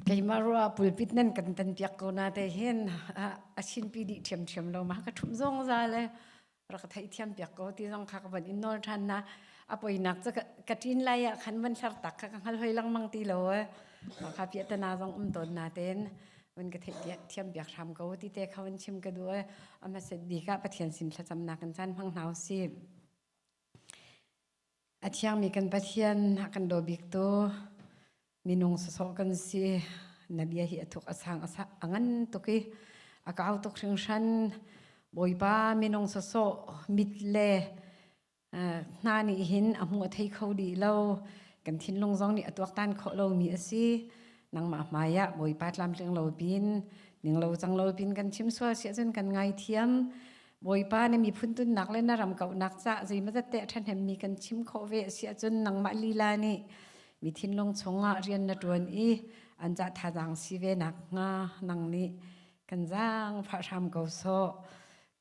Keimah ruah ah pulpit nan kan tanpiak ko na te hin a chinpi dih ṭhiamṭhiam lo ma. Ka ṭhumh zungza le rak ka theihthiam piak ko ti zong kha ka van in nawl ṭhan na. A poinak cu ka ṭin lai ah khan van hlartak kha ka hngal hoi lengmang ti lo ee. Kha piah ta na zong um tawn na tein van ka theihthiam piak hram ko ti te kha van chim ka duh ee. A hmaset bik ah Pathian sin thlacamnak in caan hmang hna u sih. A thiangmi kan Pathian a kan daw biktu minung sawsawh kan si. Na bia hi a thuk a sang a ngan tuk i a kau tuk hringhran. Bawipa minung sawsawh mit le hna nih hin a hmu a thei kho dih lo. Kan thinlung zong nih a tuaktan khawh lomi a si. Nangmah hmaiah Bawipa tlamtling lo pin, ninglo cang lo pin kan chim sual si ahcun kan ngaithiam. Bawipa na miphun tunnak le na ram kauhnak cah zeimazat te a ṭhahnemmi kan chim khawh ve a si ahcun nangmah lila nih mi thinlung chungah rian na ṭuan i an cah thazaang si ve nakhnga nang nih kan zaangfah hram ko sawh.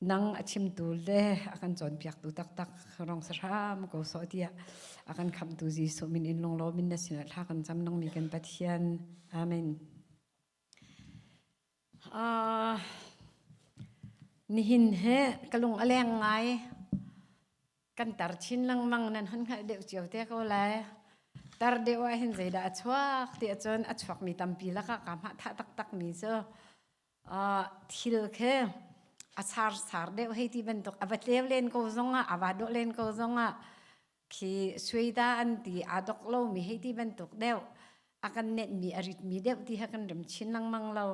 Nang a chimtu le a kan cawnpiaktu taktak rong sa hram ko sawh tiah a kan khamhtu Jesuh min in lunglaw min na sinah thla kan cam nangmi kan Pathian. Amen. Nihin hi ka lung a leng ngai. Kan tar chin lengmang nan hun hngalh deuh cio te ko lai. Tar deuh ahhin zeidah a chuak ti ahcun a chuakmi tampi lakah kaa hmah thah taktakmi cu thil khi a sarsar deuh hei ti bantuk a va tleu len ko zongah, a va dawh len ko zongah khi suida an ti aa dok lomi hei ti bantuk deuh a kan nenhmi a ritmi deuh ti he kan rem chin lengmang lo.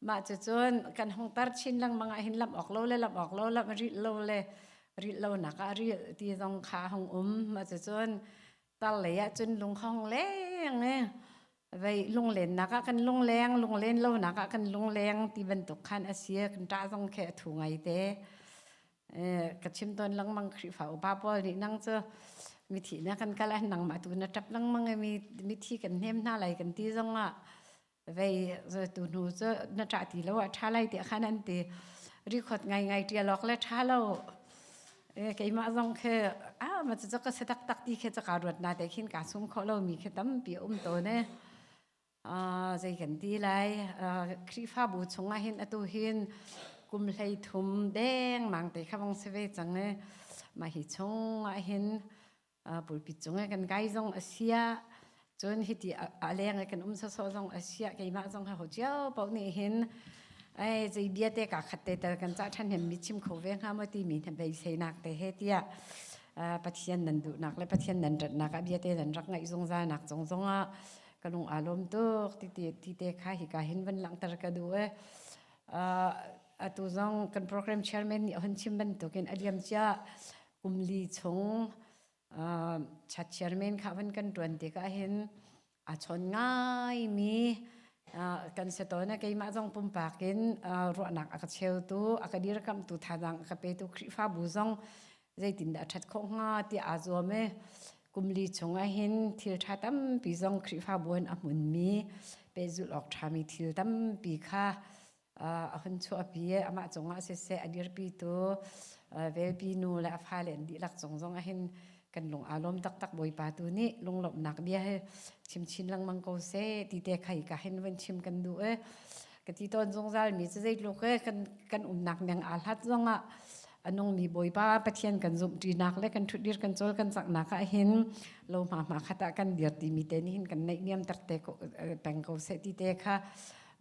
Mah cucun kan hung tar chin lengmang ahhin lamh awk lo le lamh awk lo, lamh rilh lo le rilh lonak ah rilh ti zong kha hung um. Mah cucun tar lei ahcun lung kha hung leng i vei lunglennak ah kan lungleng, lunglen lonak ah kan lungleng ti bantuk khan a si. Kan ṭah zong khi a thu ngai te. ka chim tawn lengmang Khrihfa upa pawl nih nang cu mithi na kan kal an nangmah tu na ṭap lengmang i mithi kan hnem hna lai kan ti zong ah vei tu hnu cu na ṭah ti lo ah ṭha lai tiah khan an ti rikhawt ngaingai ṭial awk le ṭha lo keimah zong khi a ma cu ka si taktak ti khi ca ka ruat na te khin kaa sum khawh lomi khi tampi a um tawn e Ah, zei kan ti lai. Ah, Khrihfabu chungah hin atu hin kum hleithum dengmang te kha vong si ve cang e. Mah hi chungah hin ah, pulpit cungah kan kai zong a sia. Cun hiti a a leng i kan um sawsawh zong a sia. Keimah zong ha ho cio paoh nih hin ai zei bia te kaa khat te tal kan cah ṭhan hem mi chim kho ve hnga maw timi he beiseinak te he tiah ah, Pathian nan duhnak le Pathian nan ratnak ah bia te nan rak ngaih zungzalnak zong zongah ka lung aa lawm tuk tite tite kha hika hin van langhter ka duh e uh, atu zong kan program chairman nih hun chim bantukin a liam cia kumli chung uh, chat chairman kha van kan tuan te ka hin a chon ngai mi uh, kan se to na keimah zong pumpak in uh, ruahnak aka cheu tu aka dir kam tu thadang aka pe tu khrifa bu zong zeitindah a ṭhat khawh hnga tiah aa zuam i kumli chungah hin thilṭha tampi zong Khrihfabu in a hmunmi pehzulh awk ṭhami thil tampi kha a hun chuahpi i amah cungah siseh a dirpitu velpi nu le a fale in dihlak cung zongah hin kan lung aa lawm taktak Bawipa tu nih lunglawmhnak bia hi chim chin lengmang ko seh ti te kha hika hin vun chim kan duh i ka ti tawn zungzalmi cu zeitluk i kan umnak niang aa hlat zongah anungmi bawipa pathian kan zumhṭinak le kan ṭhutdir kan cawl kan caknak ah hin lo hma hma khat ah kan dir timi te nih hin kan neih niam takte ko peng ko seh ti te kha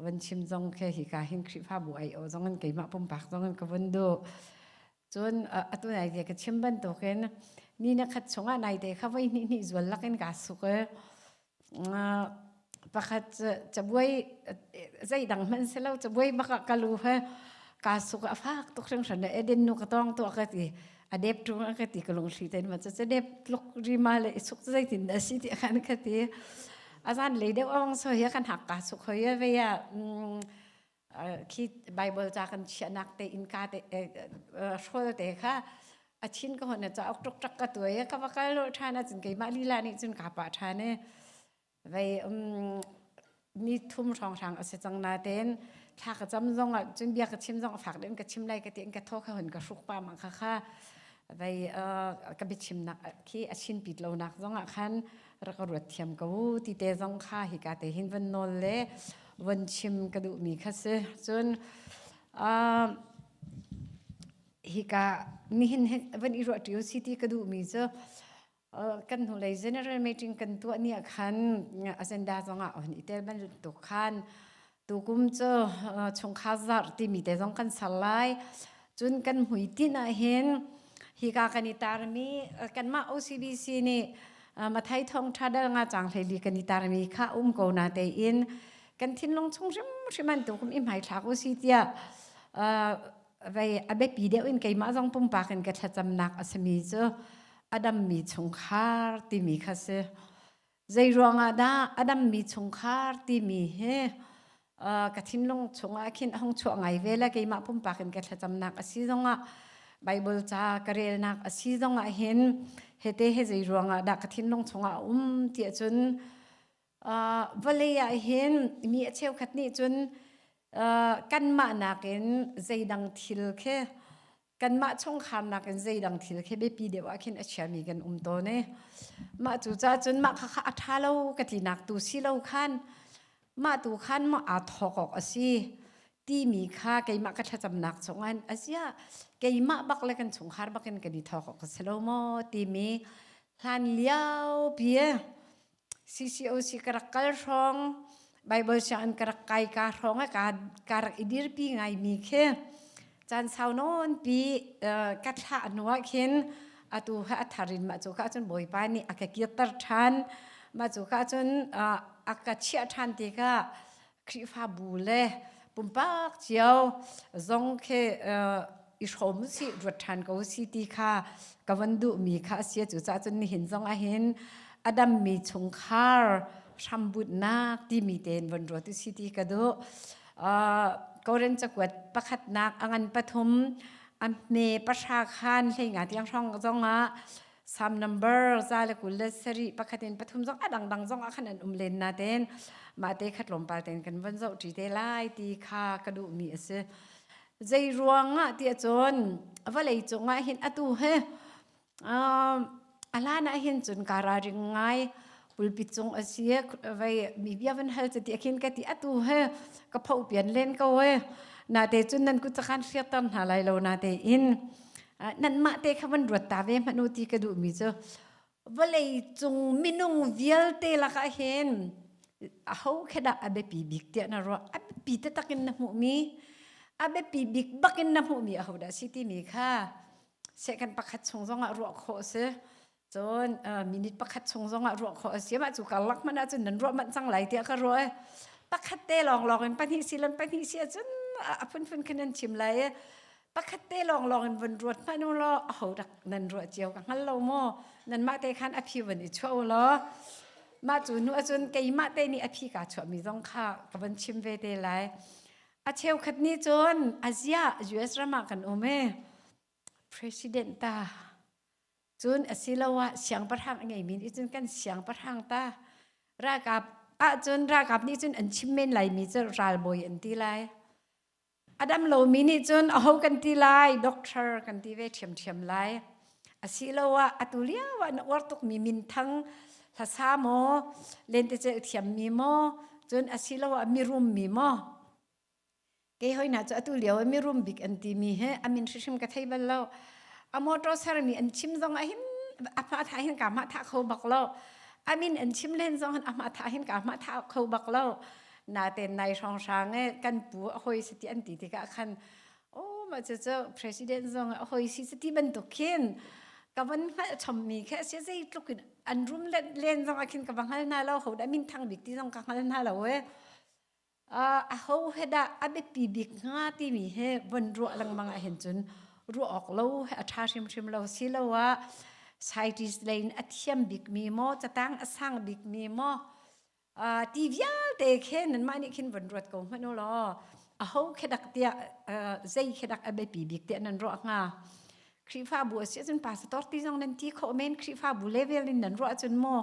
van chim zong khe hi ka hin khrihfabu ai o zong in keimah pumpak zong in ka vun du cun atu nai te ka chim bantukin ni na khat chungah nai te kha voi hnih hnih zual lakin ka suk pakhat cu cabuai zeidang hmanh si lo cabuai bak ah ka lu he kaa suk ah a fak tuk hringhran e edin nu ka tawng tuah ka ti a dep ṭung a ka ti ka lungthli tein ma cu dep tluk ri ma le i suk cu zeitin dah a si ti a kan ka ti a zan lei deuh awng so hi a kan hak kaa suk hoi ve ah khi Bible ca kan chiahnak te innka te hrawl te kha a chin ka hon cauk tuk tak ka tuai ka va kal lo than a cun keimah lila nih cun ka pa than e vei ni thum hrang hrang a si cang na ten thla ka cam zong ah cun bia ka chim zong fak den ka chim lai ka ti in ka tho ka hon ka hruk pa ma kha kha Vei uh, ka bichimnak khi achin pit lonak zong ah khan rak ka ruat thiam ko ti te zong kha hi ka te hin van nol le van chim ka duh mi kha si cun uh, hi ka nihin van i ruah ṭio si ti ka duh mi cu kan hnulei general meeting kan tuah ni ah khan agenda zongah hon i tel bantuk tuk khan tukum cu chungkhar zarh timi te zong kan ser lai. Cun kan hmuitinh ahhin hika kan i tarmi kanmah OCBC nih Mathai thawngṭha dal nga cang hleli kan i tarmi kha um ko na tein kan thinlung chung hrimhrim an tukum i hmaithlak u si tiah vei a biapi deuh in keimah zong pumpak in ka thlacamnak a simi cu a dammi chungkhar timi kha si. Zei ruangah dah a dammi chungkhar timi hi uh, ka thinlung chungah khin a hung chuah ngai ve la keimah pumpak in ka thlacamnak a si zongah Bible ca ka relnak a si zongah hin hete he zei ruangah dah ka thinlung chungah a um ti ahcun Uh, vawlei ah hin mi a cheukhat nih cun uh, kanmah nakin zeidang thil khi kanmah chungkhar nakin zeidang thil khi biapi deuh ah khin a chiami kan um tawn i mah cu cun mah khakha a ṭha lo ka tlinak tu si lo khan mah tu khan maw aa thawk awk a si timi kha keimah ka thlacamnak chungin a ziah keimah bak le kan chungkhar bakin kan i thawk awk a si lo maw timi hlan liopi CCOC ka rak kal hrawng Bible sianginn ka rak kai ka hrawng ah kaa, kaa rak i dirpi ngaimi khi caan sau nawnpi ka thlah hnuah khin atu kha a thar in mah cu kha cun Bawipa nih a ka kirter ṭhan. Mah cu kha cun a ka chiah ṭhan tikah Khrihfabu le pumpak cio zong khi i hrawm si ruat ṭhan ko si ti kha ka van duhmi kha a si. Cucahcun nihin zong ahhin a dammi chungkhar hrambutnak timi tein von ruat u si ti ka duh. Koren cakuat pakhatnak a ngan pathum a hme pahra khan hleinga tiang hrawng zongah Sam number za le kul le sari pakhat in pathum zong a dangdang zong ah khan an um len na ten mah te khat lom pal ten kan von zoh ṭi te lai ti kha ka duh mi a si. Zei ruangah ti cun vawlei cungah hin atu hi um a hlan ah hin cun ka ralring ngai. kulpi cung asi vai mi bia van hal ti akhin ka ti atu he ka pho pian len ko he na te chun nan ku chakan shir tar hna lai lo na te in nan ma te kha van ruat ta ve manu ti ka du mi chu vale cung minung vialte laka hen a ho kheda abepi bik tia na ro abepi te takin na mu mi abepi bik bakin na mu mi a ho da si ti mi kha se kan pakhat chung zongah ruah kho se Cun uh, minute pakhat chung zongah ruah khawh a si mah cu karlak hmanh ahcun nan ruah manh cang lai tiah ka ruah i pakhat te lawnglawng in pahnih si lan pahnih si ahcun a a phunphun khan nan chim lai i pakhat te lawnglawng in vun ruat hmanh u law a ho dak nan ruah cio ka hngal lo maw nan mah te khan a phi van i chuah u law mah cu nu ahcun keimah te nih a phi kaa chuahmi zong kha ka van chim ve te lai a cheukhat nih cun Asia US ram ah kan um i President ta. Cun asiloah siangpahrang a ngeimi nih cun kan siangpahrang ta. Ralkap ahcun ralkap nih cun an chim men laimi cu ralbawi an ti lai. A dam lomi nih cun aho kan ti lai, doctor kan ti ve ṭhiamṭhiam lai. Asiloah atu lio ah na uar tukmi minthang hlasa maw, lentecelh thiammi maw, cun asiloah mirummi maw, Kei hoina cu atu lio mirum bik an timi he amin hrim ka thei bal lo. A motor sermi an chim zong ah hin ahma thah hin kaa hmah thah kho bak lo. Amin an chim len zong hin ahma thah hin kaa hmah thah kho bak lo. Natein nai hrawnghrang e kan pu a hoi si ti an ti tikah khan aw mah cucu president zong a hoi si ti bantuk khin ka van hngalh chommi khi asi zeitluk in an rum len zong ah khin ka va hngal hna lo. Ho dah minthang bik ti zong ka hngal hna lo e. ahohe dah a biapi bik hnga timi hi vun ruah lengmang ahhin cun ruah awk lo he a ṭha hrimhrim lo siloah scientist lei in a thiam bikmi maw catang a sang bikmi maw ti vialte khi nanmah nih khin vun ruat ko hmanh ulaw aho khi dak tiah zei khi dak a biapi bik tiah nan ruah hnga? Khrihfabu a si ahcun pasator ti zong nan ti khawh men Khrihfabu level in nan ruah ahcun maw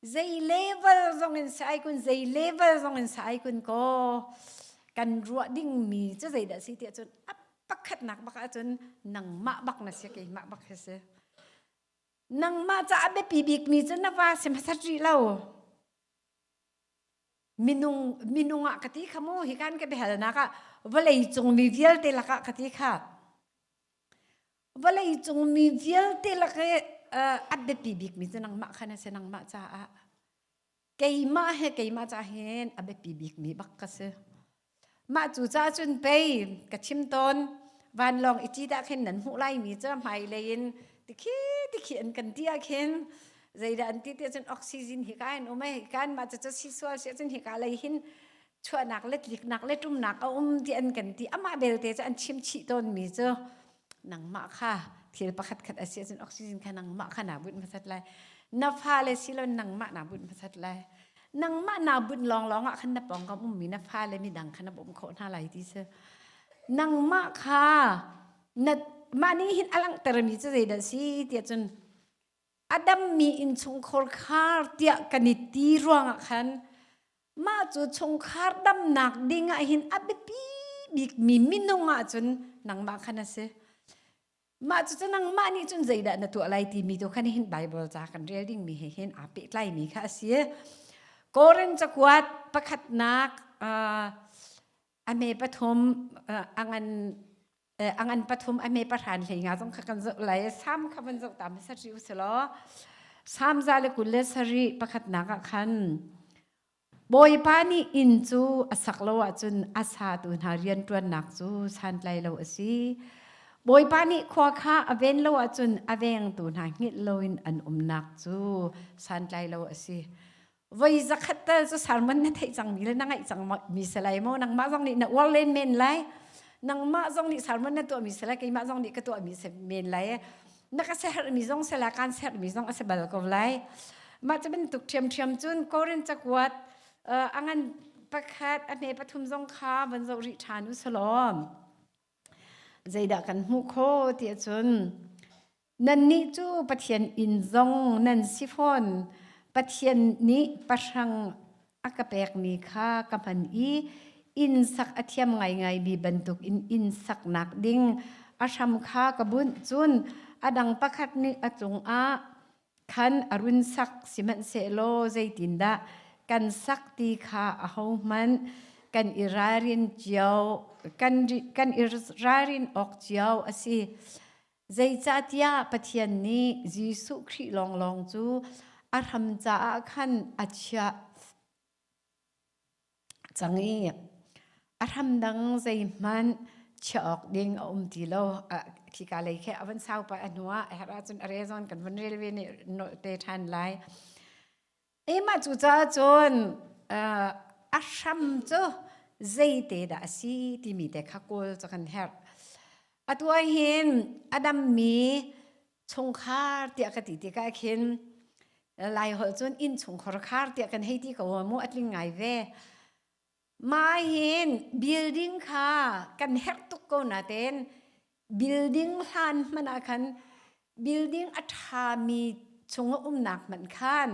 Zei level zongin sa ai kun, zei level zongin sa ai kun kaw, kan ruah dingmi cu zeidah si tiah cun, a pakhatnak bak ahcun nangmah bak na si, keimah bak hi si. Nangmah caah biapi bikmi cu na va si hmasat rih lo. Minung, minung ah ka ti kha mu, hikan ka biahalnak ah vawleicung mi vialte lakah ka ti kha. Vawlei cung mi vialte lak i uh, a biapi bikmi cu nangmah khan a si nangmah caah keimah he keimah ca hin a biapi bikmi bak ka si mah cu ca cun pei ka chim tawn vanlawng i ci dah khin nan hmuh laimi cu hmailei in tikhi tikhi an kan ti ah khin zeidah an ti ti cun oxygen hi ka in um ai kan mah cucu si sual si cun hika lei hin chuahnak le tliknak le ṭumnak a um ti an kan ti. Amah belte cu an chimchih tawnmi cu nangmah kha thil pakhatkhat a si ahcun oxygen kha nangmah kha naa bunh hmasat lai. Na fale silon nangmah naa bunh hmasat lai. Nangmah naa bunh lawnglawng ah khan na pawngkam ummi na fale midang kha na bawmh khawh hna lai ti cu. Nangmah kha na mah nih hin a langhtermi cu zeidah a si ti ahcun a dammi innchungkhar khar tiah kan i ti ruangah khan mah cu chungkhar damnak ding ah hin a biapi bikmi minung ahcun nangmah khan a si. Mah cucu nangmah nih cun zeidah na tuah lai timi tu khan hin Bible ca kan rel dingmi he hin aa pehtlaimi kha a si. Korin cakuat pakhatnak uh, a me pathum a ngan a ngan pathum a me pahran hlei nga zong kha kan zoh lai sam kha van zoh ta sa ri usilaw sam za le kul le sari pakhatnak ah khan bawipa nih inn cu a sak lo ahcun a satu hna rianṭuannak cu santlai lo a si bawipa nih khua kha a ven lo ahcun a vengtu hna hngilh loin an umnak cu santlai lo a si Voi zakhat tal cu sermon na theih cang mi le na ngaih cang mi se lai maw nangmah zong nih na uar len men lai nangmah zong nih sermon na tuah mi se lai keimah zong nih ka tuah mi se men lai na ka seher mi zong se la kan seher mi zong a se bal ko lai mah cu bantuk ṭhiamṭhiam cun Korin cakuat a ngan pakhat a hne pathum zong kha van zoh rih ṭhan u salawm zeidah kan hmuh kho tiah cun Nannih cu Pathian inn zong nan si fawn. Pathian nih pahrang a ka pekmi kha ka hman i inn sak a thiam ngaingai mi bantukin inn saknak ding a hram kha ka bunh. Cun a dang pakhat nih a cungah khan a run sak, sihmanhsehlaw zeitindah kan sak ti kha ahohmanh kan i ralrin cio kan i ralrin awk cio a si. Zeicahtiah Pathian nih Jesuh Khrih lawnglawng cu a hram caah khan a chia cang i a hram dang zeihmanh chiah awk ding a um ti lo. A khika lei khi a van saupa a hnuah a herh ahcun a rezon kan van rel ve nih nolh te ṭhan lai. Emah cucaah cun, aa a hram cu zeite dah a si timi te kha kawl cu kan herh. Atu ahhin a dammi chungkhar tiah ka ti tikah khin Lai holh cun innchungkhar khar tiah kan hei ti ko hnga mu, a tling ngai ve. Mah hin building kha kan herh tuk ko natein building hlan hmanh ah khan building a ṭhami chung a umnak hmanh khan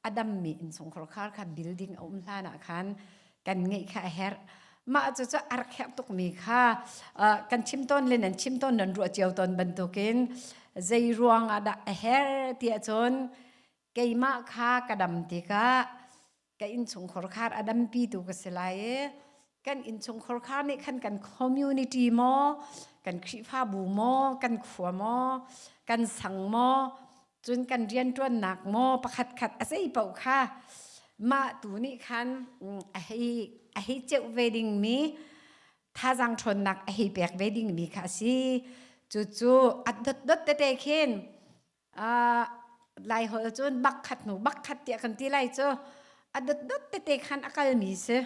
a dammi innchungkhar khar kha building a um hlan ah khan kan ngeih kha a herh. Mah cucu a rak herh tukmi kha aa kan chim tawn le nan chim tawn nan ruah cio tawn bantukin zei ruang ah dah a herh tiah cun keimah kha ka dam tikah ka innchungkhar khar a dampi tu ka si lai i kan innchungkhar khar nih khan kan community maw kan khrifabu maw kan khua maw kan sang maw cun kan rianṭuannak maw pakhat khat a sei paoh kha mah tu nih khan a hei a hei ceuh ve dingmi thazang ṭhawnnak a hei pek ve dingmi kha a si cucu a dotdot tete khin Lai holh cun bakkhat hnu bakkhat tiah kan ti lai cu. A dotdot tete khan a kalmi si.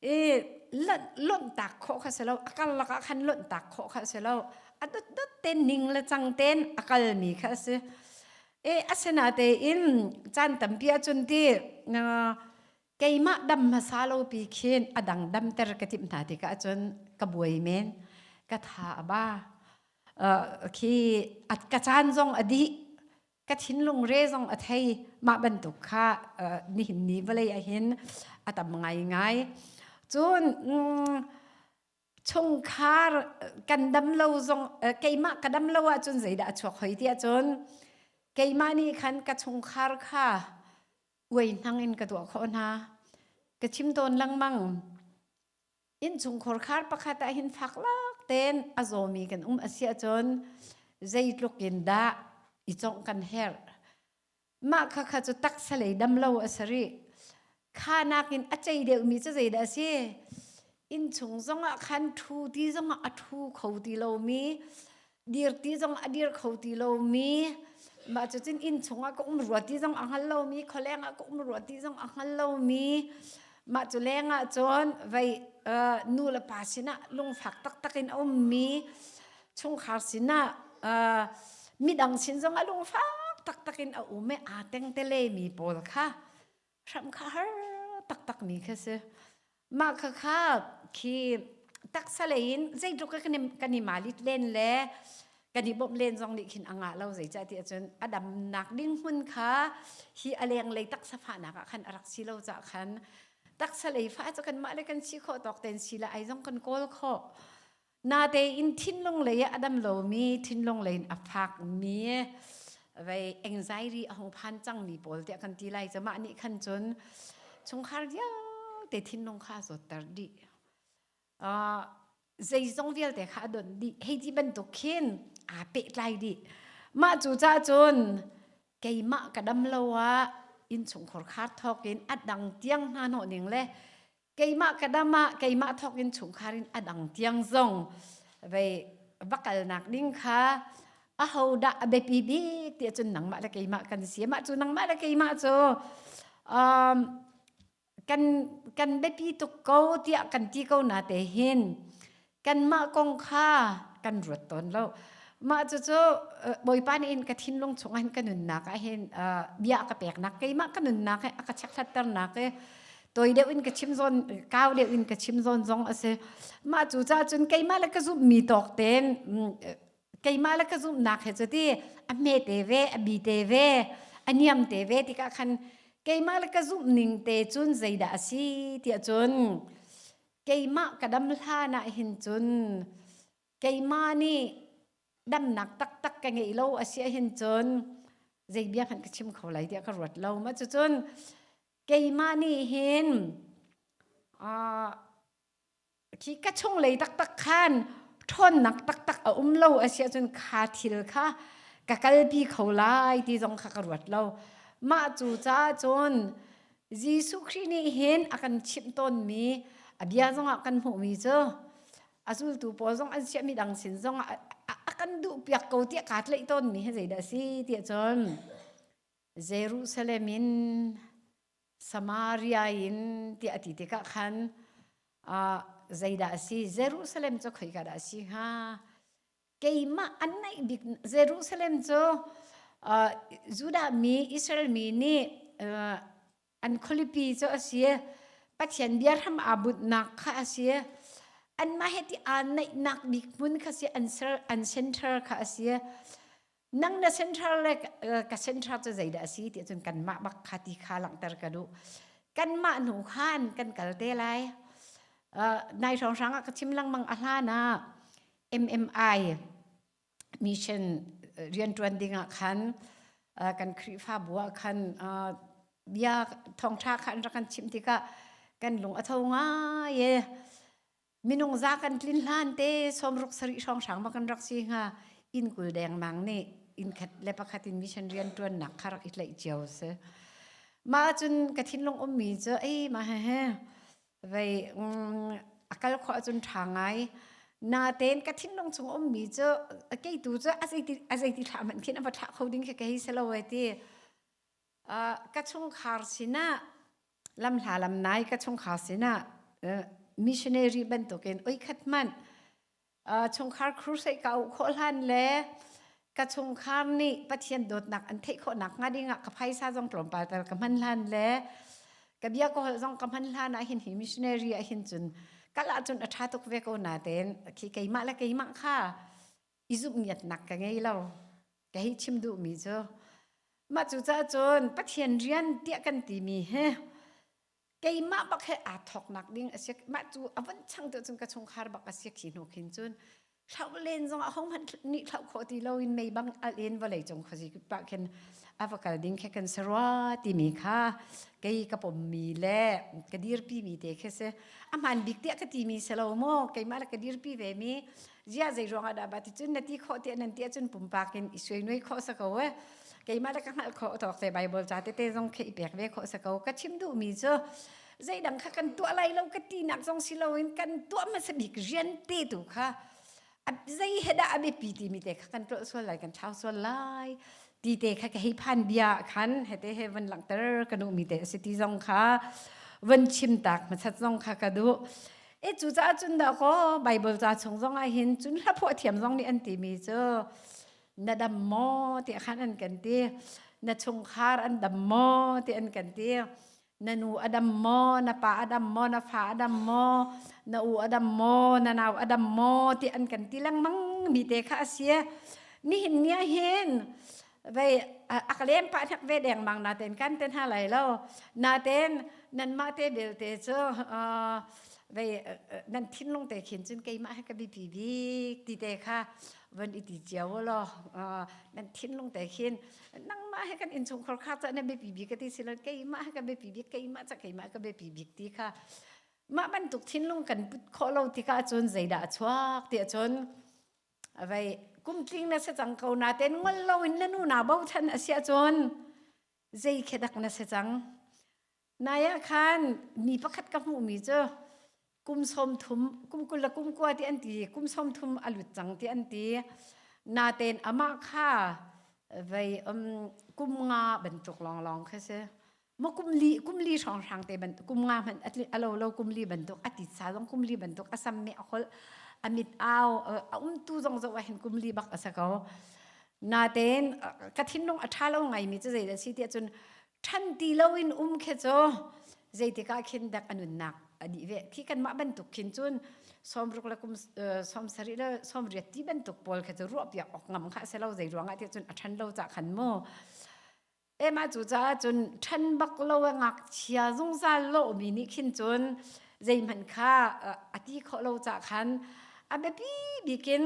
I lonhtak khawh kha si lo. A karlak ah khan lonhtak khawh kha si lo. A dotdot ten ning le cang ten a kalmi kha si. I asinatein caan tampi ahcun ti keimah dam hmasa lo pi khin a dang dam ter ka tim hna tikah cun ka buai men ka tha a ba khi at ka caan zong a dih ka thinlung re zong a thei mah bantuk kha nihin ni vawlei ahin a tam ngaingai cun chungkhar kan dam lo zong keimah ka dam lo ahcun zeidah a chuak hoi tiah cun keimah nih khan ka chungkhar kha uainang in ka tuah khawh hna ka chim tawn lengmang innchungkhur khar pakhat ah hin fak lak ten a zawmi kan um asia cun zeitluk in dah i congh kan herh mah kha kha cu taksa lei dam lo a si rih khanak in a cei deuhmi cu zeidah a si innchung zongah khan ṭhu ti zongah a ṭhu kho ti lomi dir ti zong a dir kho ti lomi mah cu cun inn chungah ka um rua ti zong a hngal lomi khualeng ah ka um rua ti zong a hngal lomi mah cu leng ah cun vei nu le pa sinah lungfak taktak in a ummi chungkhar sinah midang sin zong a lungfak taktak in a um i aa teng te lemi pawl kha Hramh kha har taktakmi kha si. Mah khakha khi taksa lei in zeitluk a kan i malit len le kan i bawmh len zong nih khin a ngah lo. Zeicah tiah cun a damnak ding hmun kha hi a lenglei taksa fahnak ah khan a rak si lo caah khan taksa lei fah cu kanmah le kan si khawh tawk ten si le ai zong kan kawl khawh. Natein thinlung lei a dam lomi thinlung lei in a fakmi vei anxiety a hung phan cangmi pawl tiah kan ti lai cu mah nih khan cun chungkhar vialte thinlung kha a zawtter dih. Uh, zeizong vialte kha a donh dih. Hei ti bantuk khin aa pehtlai dih. Mah cu cah cun keimah ka dam lo ah innchungkhur khar thawkin a dang tiang hna hnawh ning le keimah ka dam ah keimah thawkin chungkhar in a dang tiang zong vei vakalnak ding kha aho dah a biapi bik ti cun nangmah le keimah kan si mah cu nangmah le keimah cu um, kan kan biapi tuk ko tiah kan ti ko na te hin Kanmah kong kha kan ruat tawn lo. Mah cucu uh, Bawipa nih in ka thinlung chungah hin ka nunnak ah hin uh, bia ka peknak keimah ka nunnak he a ka chekhlaternak i toi deuh in ka chim zawn kau deuh in ka chim zawn zong a si. Mah cu ca cun keimah le ka zumhmi tawk tein mm, keimah le ka zumhnak he cu ti a hme te ve, a bi te ve, a niam te ve tikah khan keimah le ka zumhning te cun zeidah a si tiah cun Keimah ka dam hlan ah hin cun keimah nih damnak taktak ka ngei lo asi hin cun zei bia hmanh ka chim kho lai tiah ka ruat lo. Mah cucun keimah nih hin ah khi ka chunglei taktak khan ṭhawnnak taktak a um lo asi ahcun kha thil kha ka kalpi kho lai ti zong kha ka ruat lo. Mah cucaah cun Jesuh Khrih nih hin a kan chimh tawnmi a bia zongah kan hmuhmi cu a zultu pawl zong an siah midang sin zong a, a, a kan duhpiak ko tiah kaa tleih tawnmi hi zeidah a si ti ahcun Jerusalem in Samaria in tiah a ti tikah khan uh, zeidah a si Jerusalem cu khoi ka dah a si hnga keimah an naih bik Jerusalem cu uh, Judah mi Israel mi nih uh, an khualipi cu a si Pathian bia hram aa bunnak kha a si anmah he ti aa naihnak bik hmun kha si an ser an center kha a si nang na central le ka central cu zeidah a si ti cun kanmah bak kha ti kha langhter ka duh kanmah hnu khan kan kal te lai nai hrawnghrang ah ka chim lengmang a hlan ah MMI mission rianṭuan ding ah khan kan Khrihfabu ah khan bia thawngṭha kha an rak kan chimh tikah kan lung a tho ngai i minung za kan tlin hlan te somruk sari hrawng hrang ma kan rak si hnga inn kul dengmang nih inn khat le pakhat in mission rian tuan nak kha rak i tlaih cio si ma cun ka thinlung um mi cu ei ma he he vei mm, a kal khwa cun tha ngai na ten ka thinlung chung um mi cu kei tu cu azei ti azei ti thla man khin ama thla kho ding khi ka hi selo ai ti ka chungkhar sinah lamhla lamnai ka chungkhar sinah missionary bantukin oikhat hmanh chungkhar crusade ka auh khawh hlan le ka chungkhar nih Pathian dawtnak an theih khawhnak hnga dingah ka phaisa zong tlawmpal tal ka hman hlan le ka bia ka holh zong ka hman hlan ah hin hi missionary ah hin cun kal ahcun a ṭha tuk ve ko natein khi keimah le keimah kha i zumhniatnak ka ngei lo. Ka hei chim duhmi cu, mah cucaah cun Pathian rian tiah kan timi hi keimah bak he aa thawknak ding a si. Mah cu a vun chang tu cun ka chungkhar bak a si khi hnu khin cun hlauh len zong ah hohmanh nih hlauh khawh ti lo in mei bang al in vawlei cung khuazi pah khin a va kal ding khi kan si rua timi kha kei ka pommi le ka dirpimi te khi si. A hmaan bik tiah ka timi si lo maw, keimah le ka dirpi vemi zia zei ruang ah dah ba ti cun na ti khawh ti nan ti cun pumpak in i suai nuai khawh sa ko e keimah le ka hngalh khawh thok te bible ca te te zong khi i pek ve khawh sa ko ka chim duh mi cu zeidang kha kan tuah lai lo ka ti nak zong si lo in kan tuah hmasa bik rian te tu kha zei he dah a biapi ti mi te kha kan tlol sual lai kan thau sual lai ti te kha ka hei phan bia khan hete he van langter ka nu mi te a si ti zong kha van chim tak masat zong kha ka du E cucaah cun dakaw Bible ca chung zong ah hin cun hlaphuah thiam zong nih an timi cu na dam maw tiah khan an kan ti na chungkhar an dam maw ti an kan ti na nu a dam maw na pa a dam maw na fa a dam maw na u a dam maw na nau a dam maw ti an kan ti lengmang mi te kha a si nihin ni ah hin vei ak lem pa hnek ve dengmang na ten kan ten ha lai lo na ten nan mah te belte cu vei nan thinlung te khin cun keimah he ka bipi bik ti te kha van i ti cio lo nan thinlung te khin nangmah he kan inchungkhar kha cha na bipi bik ka ti silon keimah he ka bipi bik keimah cha keimah ka bipi bik ti kha mah bantuk thinlung kan put khawh lo tikah cun zeidah a chuak tiah cun Avei kumtling na si cang ko natein ngol loin na nu na bochan a si ahcun zei khi dak na si cang. Nai ah khan ni pakhat ka hmuhmi cu kum sawm thum kum kul le kum kua ti an ti kum sawm thum a lut cang ti an ti. Natein amah kha vei um kum nga bantuk lawnglawng khi si. Maw kumli kumli hrawnghrang te ban kum nga man alo lo kumli banduk ati sa zong kumli banduk asam me ahol amit au a umtu zong zo hin kumli bak asa ko naten ka thinlung aṭha lo ngaimi cu zeidah si tiah cun ṭhan ti loin um khi cu zeitika khin dek anunnak adi ve thi kanmah bantuk khin cun sawmruk le kum sawmsarih le sawmriat ti bantuk pawl khi cu ruahpiak awk ngam kha asilo zei ruangah tiah cun a ṭhan lo cah khan mu Ema cu caah cun ṭhen bak lo a ngakchia zungzal lomi nih khin cun zeihmanh kha a a ti khawh lo cah khan a biapi bik in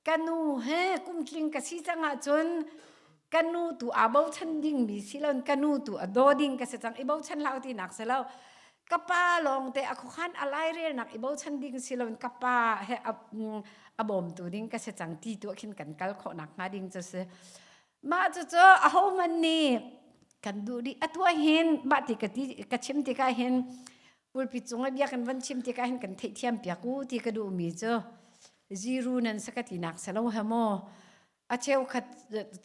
ka nu he kumtling ka si cangah cun ka nu tu aa bochan dingmi si loin ka nu tu a daw ding ka si cang i bochan hlah u tinak si lo ka pa lawng te a khuakhan a lairelnak i bochan ding si loin ka pa he a mm, a bawmtu ding ka si cang ti tu khin kan kal khawh nakhnga ding cu si. Mah cucu ahohmanh nih kan duh dih. Atu ahhin mah ti ka ti ka chim tikah hin pulpi cung i bia kan van chim tikah hin kan theihthiam piak u ti ka duhmi cu ziru nan sa ka tinak si lo he maw. A cheukhat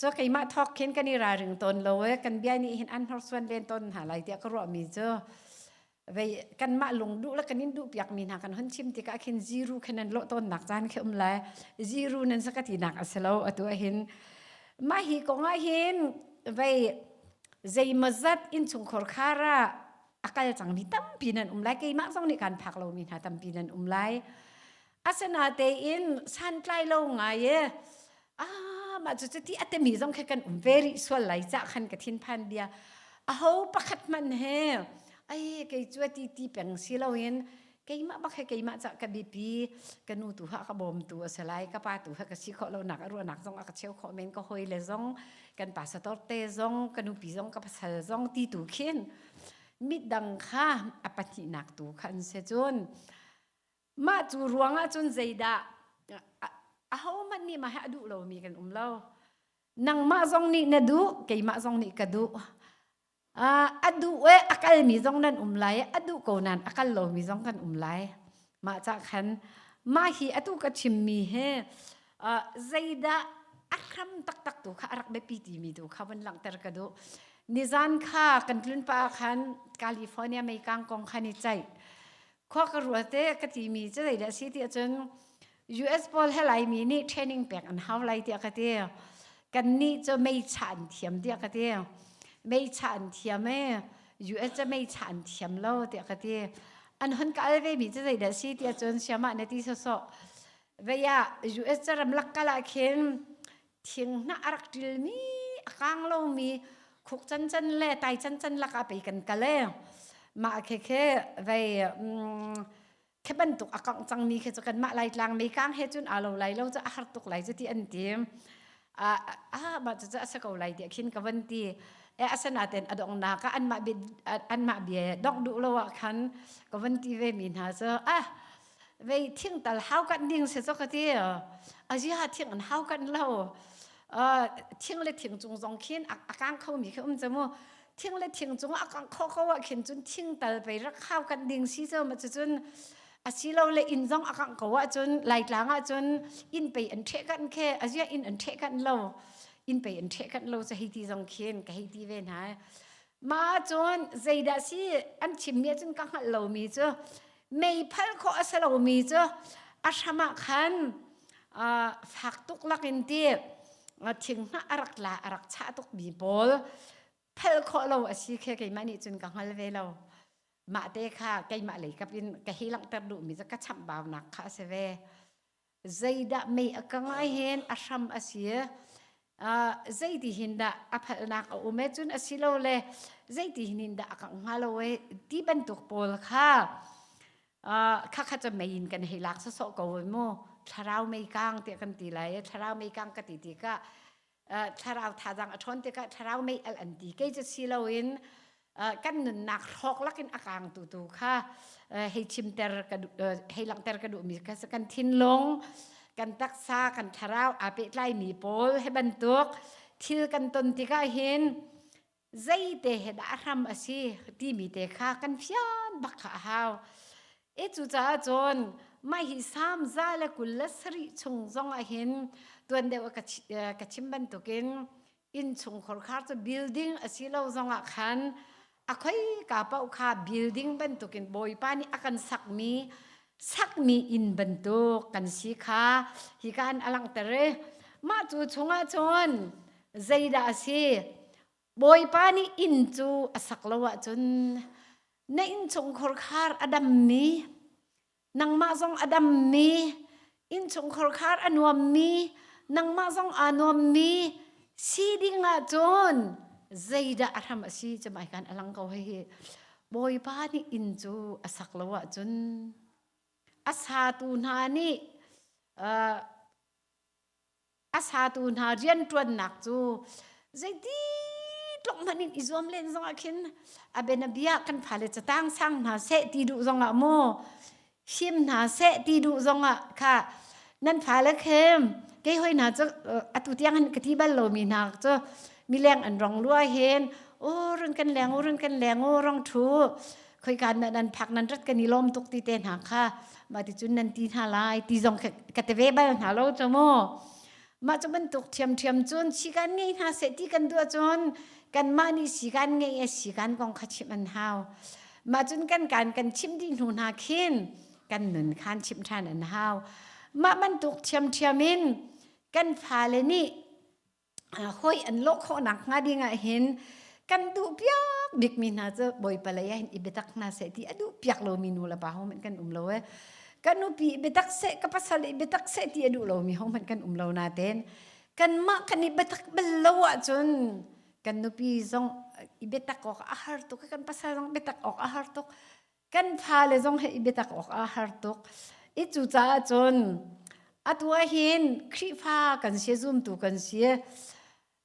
cu keimah thawk khin kan i ralring tawn lo i kan bia nih hin an hnorsuan len tawn hna lai tiah ka ruahmi cu Vei kanmah lung duh le kan in duh piakmi hna kan hon chim tikah khin ziru khan nan lawh tawnnak caan khi um lai. Ziru nan sakatinak a si lo atu ahhin. Mah hi kong ahhin vei zeimawzat innchungkhar khar ah a kal cangmi tampi nan um lai. Keimah zong nih kaan phak lomi hna tampi nan um lai. Asinatein santlai lo ngai e, ah mah cucu ti a timi zong khi kan um ve rih sual lai cah khan ka thinphan bia. Aho pakhat hmanh he, ai kei cu a ti ti peng si loin, keimah bak he keimah cah ka biapi, ka nu tu ha ka bawmtu a si lai, ka pa tu ha ka si khawh lonak a ruahnak zong a ka cheu khawh men, ka hawi le zong, kan pasa torte zong, ka nupi zong ka pasal zong ti tu khin, midang kha a pahnihnak tu kha an si cun, Mah cu ruang ahcun zeidah ahohmanh nih mah hi a duh lomi kan um lo. Nangmah zong nih na duh, keimah zong nih ka duh. Uh, a duh e a kalmi zong nan um lai i a duh ko nain a kal lomi zong kan um lai. Mah cah khan mah hi atu ka chimmi hi uh, zeidah a hram taktak tu kha a rak biapi timi tu kha vun langhter ka duh. Nizan kha kan tlunpa khan California meikang kong khan i ceih. khua ka rual te ka ti mi cu dei le si ti ahcun US pawl he lai mi nih training pek an hau lai tiah ka ti kan nih cu meicha an thiam tiah ka ti meicha an thiam e US cu meicha an thiam lo tiah ka ti an hon ka al ve mi cu dei le si ti ahcun siamah ne ti sawsawh vei ah US cu ramlak kal ah khin thinghnah a rak ṭilmi a kang lomi khuk cancan le tai cancan lakah pei kan kal e. Mah khekhe vei mm, khi bantuk a kangh cangmi khi cu kanmah Laitlang mei kang he cun aa lo lai lo cu a har tuk lai cu ti an ti. A a mah cucu a si ko lai tiah khin ka van ti. E asinaten a donghnak ah anmah bia anmah bia dongh duh lo ah khan ka van ti vemi hna cu a vei thingtal haukat ding se cho ka ti azia thing an haukat lo thing le thing cung zong khin a kang kho mi khi um chamu thing le thing cung a kang kho ko ah khin cun thingtal pei rak haukat ding si cho ma cun asilo le inn zong a kang ko ah cun laitlang ah cun inn pei an ṭhe kan khe azia inn an ṭhe kan lo inn pei an ṭhe kan lo cha hei ti zong khin ka hei ti ve hna Ma cun zeidah si an chimmi ahcun ka hngalh lomi cu meiphalh khawh a si lomi cu a hram ah khan uh, fak tuk lakin ti uh, thinghnah a rak tla a rak chah tukmi pawl phal khawh lo a si khi keimah nih cun ka hngal ve lo mah te kha keimah leikap in ka hi langhter duhmi cu ka chambaunak kha a si ve Zeidah mei a ka ngai hen a hram a si. Uh, zeitihin dah a phalnak a um e cun asilole zeitihin in dah a kangh hnga lo e ti bantuk pawl kha uh, khakha ca mei in kan hei lak sawsawh ko mu thlarau mei kang tiah kan ti lai e thlarau mei kang ka ti tikah thlarau thazang a ṭhawn tikah thlarau meialh an ti kei cu si loin kan nunnak hrawk lakin a kaangtu tu kha hei chimter ka hei langhter ka duhmi kha kan thinlung kan taksa kan thlarau aa pehtlaimi pawl he bantuk thil kan ton tikah hin zeite he dah hram a si timi te kha kan fian bak kha a hau. E cucaah cun mah hi samza le kul le sarih chung zong ahhin tuan deuh a ka chi- eh, ka chim bantukin innchungkhar khar cu building asilo zongah khan a khoika paoh kha building bantukin Bawipa nih a kan sakmi sakmi inn bantuk kan si kha hi ka han a langhter i mah cu chungah cun Zeidah a si? Bawipa nih inn cu a sak lo ahcun na innchung khorkhar a dammi, nangmah zong a dammi, innchung khorkhar a nuammi, nangmah zong aa nuammi si ding ahcun zeidah a hram a si cu mai kan a lang ko hihi. Bawipa nih inn cu a sak lo ahcun a satu hna nih uh, A satu hna rianṭuannak cu zeiti tluk hmanh in i zuam len zongah khin a bianabia kan fale catang sang hna seh ti duh zongah maw him hna seh ti duh zongah kha nan fale khem kei hoi hna cu atu tiang hin ka ti bal lomi hna cu mileng an rong lua hen aw run kan leng u run kan leng u rong ṭhu khoika na nan phak nan rat kan i lom tuk ti te hna kha ma ti cun nan ti hna lai ti zong ka te ve bal hna lo cho mu mah cu bantuk thiam thiam cun sikan ngei hna se ti kan duah cun kan mah nih sikan ngei e sikan kong kha chim an hau mah cun kan kan kan chim dih hnu hna khin kan nun khan chim than an hau mah bantuk thiam thiam in kan fale nih Hoi an lawh khawhnak hnga ding ahhin kan duh piak bikmi hna cu Bawipa lei ahhin i biatak hna seh ti a duh piak lomi nu le pa hohmanh kan um lo i kan nupi i biatak seh ka pasal i biatak seh ti a duh lomi hohmanh kan um lo natein kanmah kan i biatak bal lo ahcun kan nupi zong i biatak awk a har tuk i kan pasal zong biatak awk a har tuk. Kan fale zong he i biatak awkah a har tuk. I cucaah cun atu ahhin Khrihfa kan si, zumtu kan si.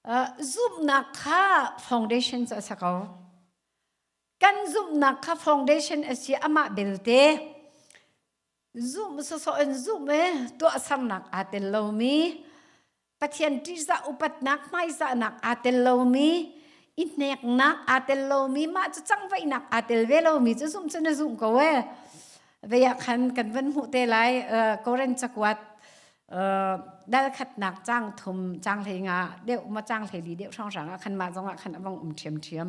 Uh, zumhnak kha foundation cu a si ko. Kan zumhnak kha foundation a si amah belte Zoom sosawh in Zoom e tuahsernak aa tel lomi, Pathian ṭihzah upatnak hmaizahnak aa tel lomi, i hneknak aa tel lomi, mah cu changvaihnak aa tel ve lomi cu Zoom cu na zumh ko ee. Vei ah khan kan van hmuh te lai uh, Korean cakuat uh, dalkhatnak cang thum cang hlei nga deuh ma cang hlei li deuh hranghrang ah khan mah zong ah khan a vong um ṭhiamṭhiam.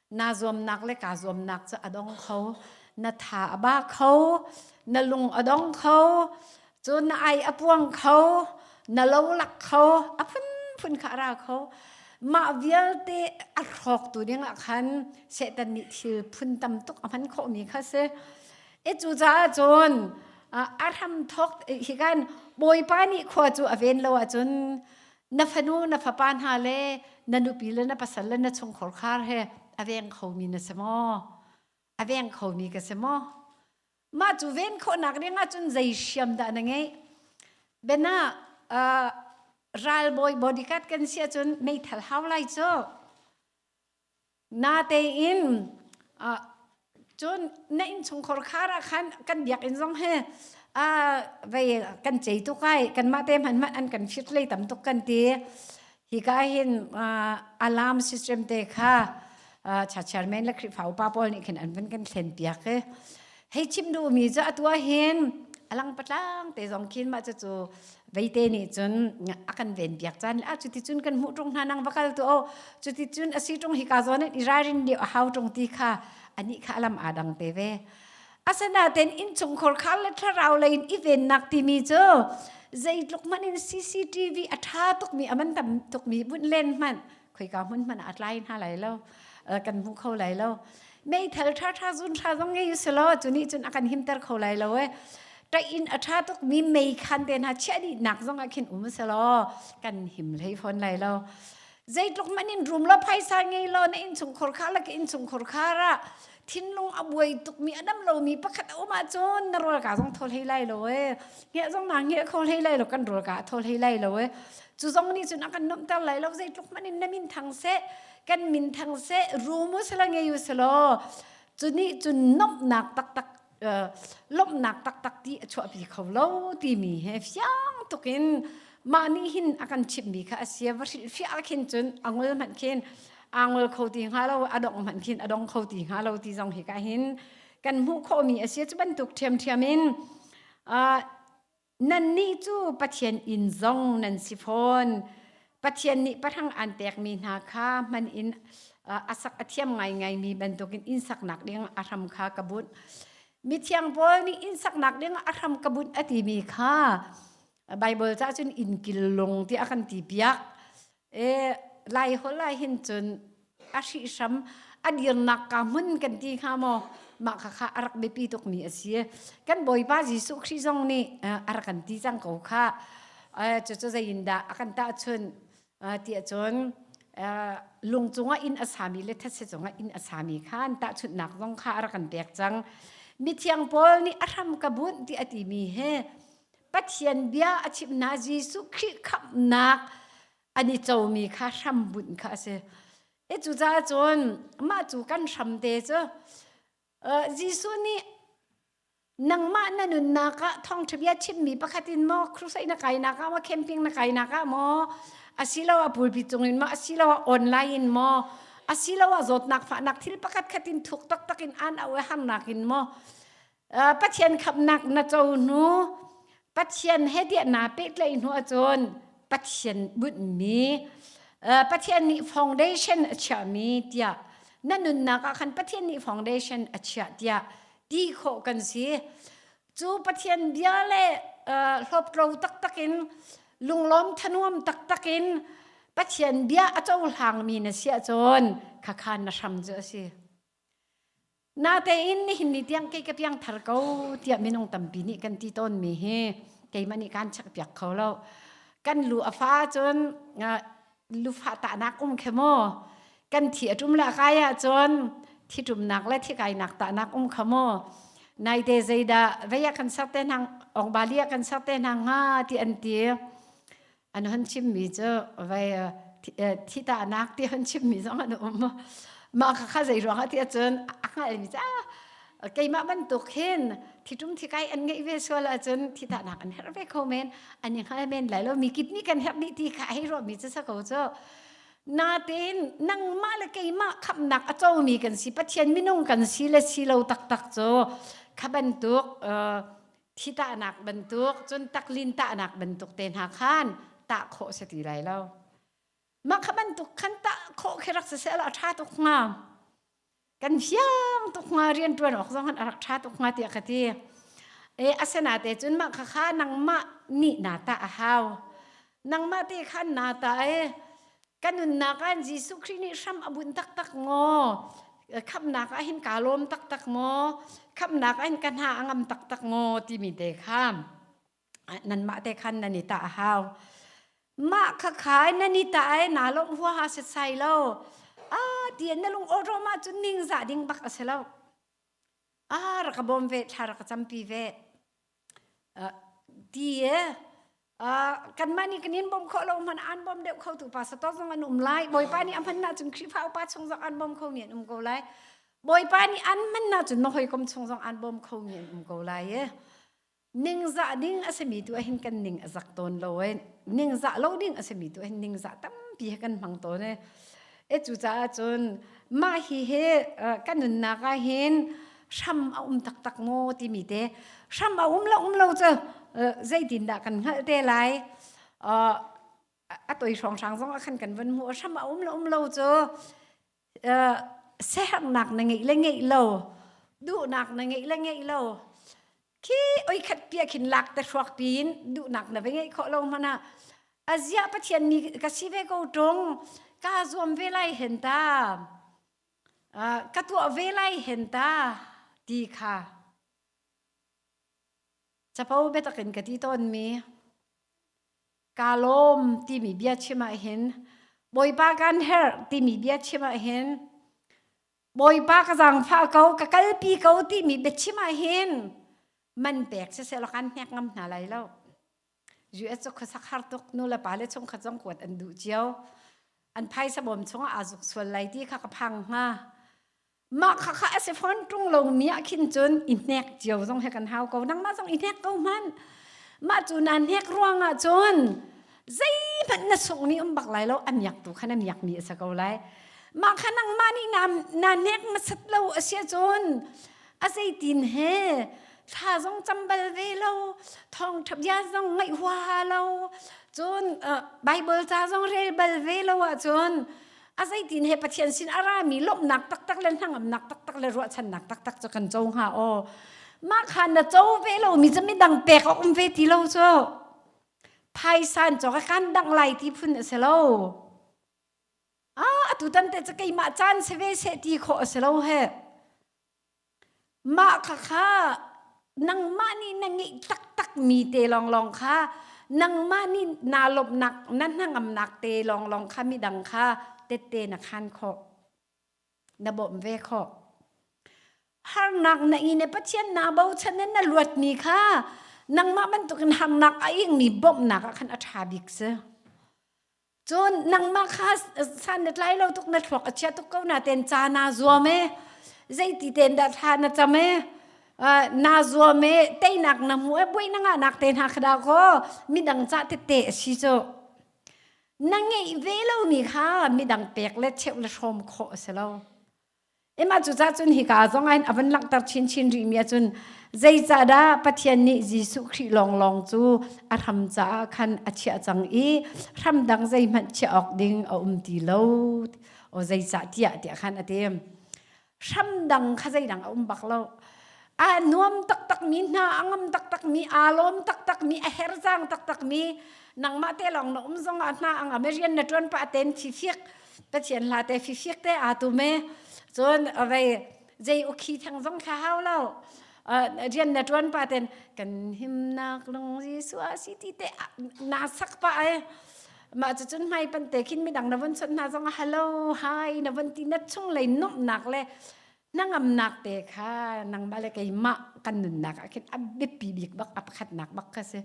na zuamnak le kaa zuamnak cu a dong kho. Na tha a ba kho. Na lung a dong kho. Cun na ai a puang kho. Na lolak kho. A phunphun kha a ra kho. Mah vialte a hrawktu dingah khan Satan nih thil phun tam tuk a hman khawhmi kha si. I cucaah cun a hramthawk hi kan Bawipa nih khua cu a ven lo ahcun na fanu na fapa hna le na nupi le na pasal le na chungkhar khar he a veng khomi na si maw a veng khomi ka si maw mah cu ven khawhnak ring ahcun zei hriam dah na ngeih bena uh, ralbawi bodyguard kan si ahcun meithal hau lai cu Natein cun na innchungkhar khar ah khan kan biakinn zong hi vei kan cei tuk ai. Kanmah te hmanhmanh an kan firh hlei tam tuk kan ti. Hika hin alarm system te kha chairman le Khrihfa upa pawl nih khin an vun kan thlen piak i hei chim duhmi cu atu ahhin alang patlang te zong khin mah cu cu veite nih cun a kan ven piak caan le a cuti cun kan hmuh ṭung hna nang va kal tu o cuti cun a si ṭung hika zawn i ralrin dih a hau ṭung ti kha anih kha alam aa dang te ve asanaten innchungkhar khar le thlarau lei in i vennak timi cu zeitluk hmanh in CCTV a ṭha tukmi a man tam tukmi bunh len hmanh khoika hmun hmanh a tlai hna lai lo kan hmu kho lai lo meithal tha tha zun tha zong ngei se law chuni cun a kan himter kho lai lo e ta in a tha tuk mi mei khan te na chia ni nak zong a khin um se law kan him lei phon lai lo zeitluk manin rum lo phaisa ngei lo na in chung khor kha la in chung khor kha ra thinlung a buai tukmi a dam lomi pakhat a um ahcun na rualka zong thawl hlei lai lo ee ngiah zong na ngiah kho hlei lai lo kan rualka a thawl hlei lai lo ee cu zong nih cun a kan nomter lai lo zeitluk hmanh in na min thang seh kan min thang seh ru mu sala ngei u selaw cu nih cun nomhnak taktak lawmhnak taktak ti a chuahpi kho lo timi he fiang tuk in mah nih hin a kan chimhmi kha a sia va hrilhfiah khin cun a ngol hmanh khin aa ngol kho ti hnga lo a dong hmanh khin a dong kho ti hnga lo ti zong hi ka hin kan hmuh khawhmi a si cu bantuk ṭhiamṭhiam in Nannih cu Pathian inn zong nan si fawn. Pathian nih pahrang aan pekmi hna kha hman in a sak a thiam ngaingaimi bantukin inn saknak ding a hram kha ka bunh. Mithiang Paul nih inn saknak ding a hram ka bunh a timi kha Baibal cah cun innkillung tiah a kan ti piak. E Lai holh ahhin cun a hrihhram a dirnak kaa hmun kan ti hnga maw mah khakha a rak biapi tukmi a si. Kan Bawipa Jesuh Khrih zong nih a a rak kan ti cang ko khah. Aa cucu zeiindah a kan tahchunh aa tiah cun aa lung cungah inn a sami le thetse cungah inn a sami khan tahchunhnak zong kha a rak kan pek cang. Mithiang Paul nih a hram ka bunh ti a timi hi Pathian bia a chimhna Jesuh Khrih khamhnak an i comi kha hrambunh kha a si. E cucaah cun mah cu kan hram te cu Jesuh nih nangmah na nunnak ah thawngṭha bia chimmi pakhat in maw crusade na kainak ah maw camping na kainak ah maw asilo a pulpit cungin maw asilo a online in maw asilo a zawtnak fahnak thil pakhat khat in thuk taktak in aan auh i harnak in maw Pathian khamnak na co hnu Pathian he diahna pehtlaih hnu ahcun Pathian bunhmi Pathian nih foundation a chiahmi tiah na nunnak ah khan Pathian nih foundation a chiah tiah ti khawh kan si. Cu Pathian bia le hloptlo taktak in lunglawm thanuam taktak in Pathian bia a cohlangmi na si ahcun khakhan na hram cu a si. Natein nihin ni tiang kei ka piangthar ko tiah minung tampi nih kan ti tawnmi hi keimah nih kaan chekpiak kho lo. Kan lu a fa cun lufah tahnak um khi maw, kan thi a ṭum le a kai ahcun thiṭumnak le thikainak tahnak um kha maw, naite zeidah vei ah kan ser te hna, ongba li ah kan ser te hna hnga ti an ti. An han chimmi cu vai thitahnak ti han chimmi zong an um. Mah kha kha zeiruang ah tiah cun a hngalmi cu keimah bantuk hin thitum thikai an ngeih ve sual ahcun thitahnak an herh ve kho men. An i hngal men lai lo. Mi kidney kan herh nih ti kha hei ruahmi cu sa ko cu. Natein nangmah le keimah khamnak a comi kan si. Pathian minung kan si le si lo taktak cu kha bantuk thitahnak bantuk cun taklin tahnak bantuk te hna khan tah khawh si ti lai lo mah kha bantuk khan tah khawh khi rak siseh la ṭha tuk hnga kan hiang tuk hnga rian ṭuan awk zong an rak ṭha tuk hnga tiah ka ti e asenate cun mah khakha nangmah nih na tah a hau nangmah te khan na ta e kan nunnak ah Jesuh Khrih nih hram a bunh taktak maw khamnak ah hin kaa lawm taktak maw khamnak ah hin ka hna a ngam taktak maw timi te kha nanmah te khan nan i tah a hau mah khakha in nan i tah e naa lawmh huaha setsai lo a ti na lungawrawm ahcun ningzah ding bak a si lo a rak ka bawm ve thla rak ka campi ve ti e kanmah nih kan in bawm khawh lo hmanh aan bawm deuh khotu pa sato zong an um lai. Bawipa nih a hmannak cun Khrihfa upa chung zong aan bawm khomi an um ko lai. Bawipa nih an hmannak cun na hawikom chung zong aan bawm khomi an um ko lai e. Ningzah ding a simi tu ahhin kan ning a zak tawn lo e. Ningzah lo ding a simi tu ahhin ningzah tampi he kan hmang tawn e. E cucaah cun mah hi hi uh, kan nunnak ah hin hram a um taktak maw timi te hram a um lo um lo cu uh, zeitin dah kan hngalh te lai uh, a toi hrawng hrang zong a khan kan van mu hram a um lo um lo cu uh, sehernak na ngei le ngei lo duhnak na ngei le ngei lo khi oikhat pia khin lak te hruak tiin duhnak na va ngeih khawh lo hmana azia pathian ni ka si ve ko ṭung ka zuam ve lai hen ta ka tuah ve lai hen ta ti kha capo biatak in ka ti tawnmi ka lawm timi bia chim ahhin bawipa kan herh timi bia chim ahhin Bawipa ka zangfah ko ka kalpi ko timi biachim ahhin man pek siseh law kan hnek ngam hna lai lo. US cu khuasak har tuk nu le pa le chung khat zong kuat an duh cio. An phaisa bawm chung ah aa zuk sual lai ti kha ka phang hnga. Mah khakha a si fawn ṭung lomi ah khin cun i hnek cio zong he kan hau ko. Nangmah zong i hnek ko hmanh. Mah cu naa hnek ruang ah cun zeihmanh na sungmi um bak lai lo a miak tu khan a miak mi a sa ko lai mah kha nangmah nih na na nek masat lo a sia cun a zeitin he thla zong chambal ve lo thong ṭhabia zong ngaih huaha lo cun bible ca zong rel bal ve lo ahcun a zeitin he pathian sin a rami lawmhnak taktak le hnangamnak taktak le ruahchannak taktak cu kan co hnga aw mah kha na co ve lo mi cu midang pek a um ve ti lo cu Phaisan cawk a kan dangh lai ti phun a si lo. A atu tan te cu keimah caan se ve seh ti khawh a si lo he. Mah kha kha nangmah nih na ngeih taktak mi te lawnglawng kha nangmah nih naa lawmhnak na hnangamnak te lawnglawng kha midang kha tette na khan khawh. na bawmh ve khawh. Harnak na ing i Pathian naa bochan i na luatmi kha nangmah bantukin harnak a ingmi bawmhnak ah khan a ṭha bik si. Cun nangmah kha san na tlai lo tuk na thluak a chia tuk ko natein ca naa zuam i zeiti tein dah thla na cam i naa zuam i teinak na hmu i buaina ngahnak te hna kha dah kaw midang ca tette a si cu. na ngei ve lomi kha midang pek le cheuh le hrawm khawh a si lo. Emma cucah cun hika zong ah hin a van langhter chinchin rihmi ahcun zeicahdah Pathian nih Jesuh Khrih lawnglawng cu a hram caah khan a chiah cang i hram dang zeihmanh chiah awk ding a um ti lo. O zeicah tiah tiah khan a ti. hram dang kha zeidang a um bak lo a nuam taktak mi hna a ngam taktak mi aa lawm taktak mi a herzang taktak mi nangmah te lawng na um zong ah hna ang rian na tuan pa ten thi fiek pathian la te fi fiek te a tu me cun vei zei ukhi thang zong kha hau lo rian na tuan pa ten kan himnak lung Jesu a si ti te na sak pa ai Mah cucun hmai pante khin midang na von chawnh hna zong ah hello, hi na von ti na chunglei nuamhnak le hnangamnak te kha nangmah le keimah kan nunnak ah khin a biapi bik bak a pakhatnak bak kha si.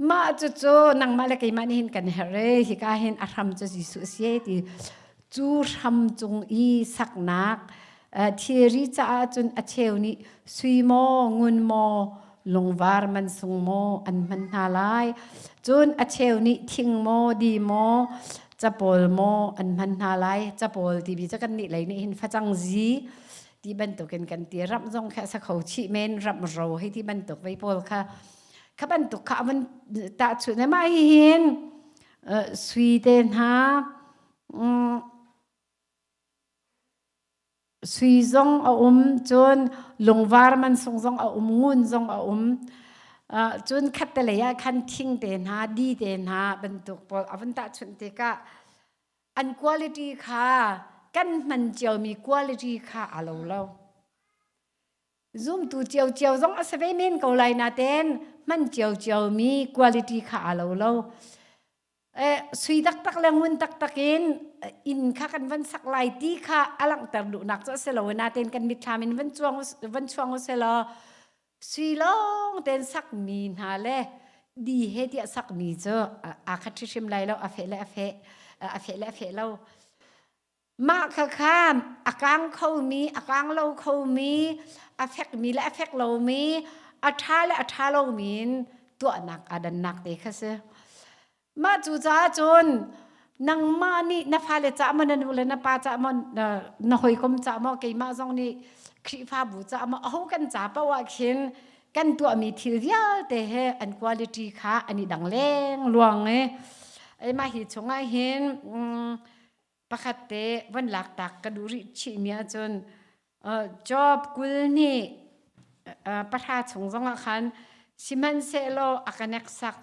Mah cucu nangmah le keimah nih hin kan herh i hika hin a hram cu Jesuh a si ti cu hram cung i saknak thilri caah cun a cheu nih sui maw ngun maw lungvar man sung maw an hman hna lai cun a cheu nih thing maw di maw capawl maw an hman hna lai capawl tibi cu kan nih lei nih hin facang zi ti bantukin kan ti ram zong kha sa kho chih men ram ro hei ti bantuk vei pawl kha kha bantuk kha avan tahchuh ne mah hi hin sui te hna Sui zong a um, cun lungvar mansung zong a um, ngun zong a um. Cun khattelei ah khan thing te hna, di te hna bantuk pawl a vun tahchunh tikah an quality kha kan hman ciomi quality kha a lo lo. Zumtu ciocio zong a si ve men ko lai natein hman ciocio mi quality kha a lo lo. sui taktak le ngun taktak in inn kha kan van sak lai ti kha a langhter duhnak cu a si lo natein kan mitthlam in van chuang van chuang usih law sui lawng tein sakmi hna le dihe tiah sakmi cu aa khat hrimhrim lai lo a feh le a feh a feh le a feh lo. Mah khakhan a kang khomi, a kang lo khomi, a fekmi le a fek lomi, a ṭha le a ṭha lomi in tuahnak aa dannak te kha si. Mah cucaah cun nangmah nih na fale cah maw na nu le na pa cah maw na na hawikom cah maw keimah zong nih Khrihfabu cah maw aho kan ca paoh ahkhin kan tuahmi thil vialte he an quality kha an i dang lengluang i, ai mah hi chung ahhin, pakhat te van lak tak ka duh rih chih mi ahcun uh, job kul nih uh, pahra chung zong ah khan sihmanhsehlaw a ka nek sak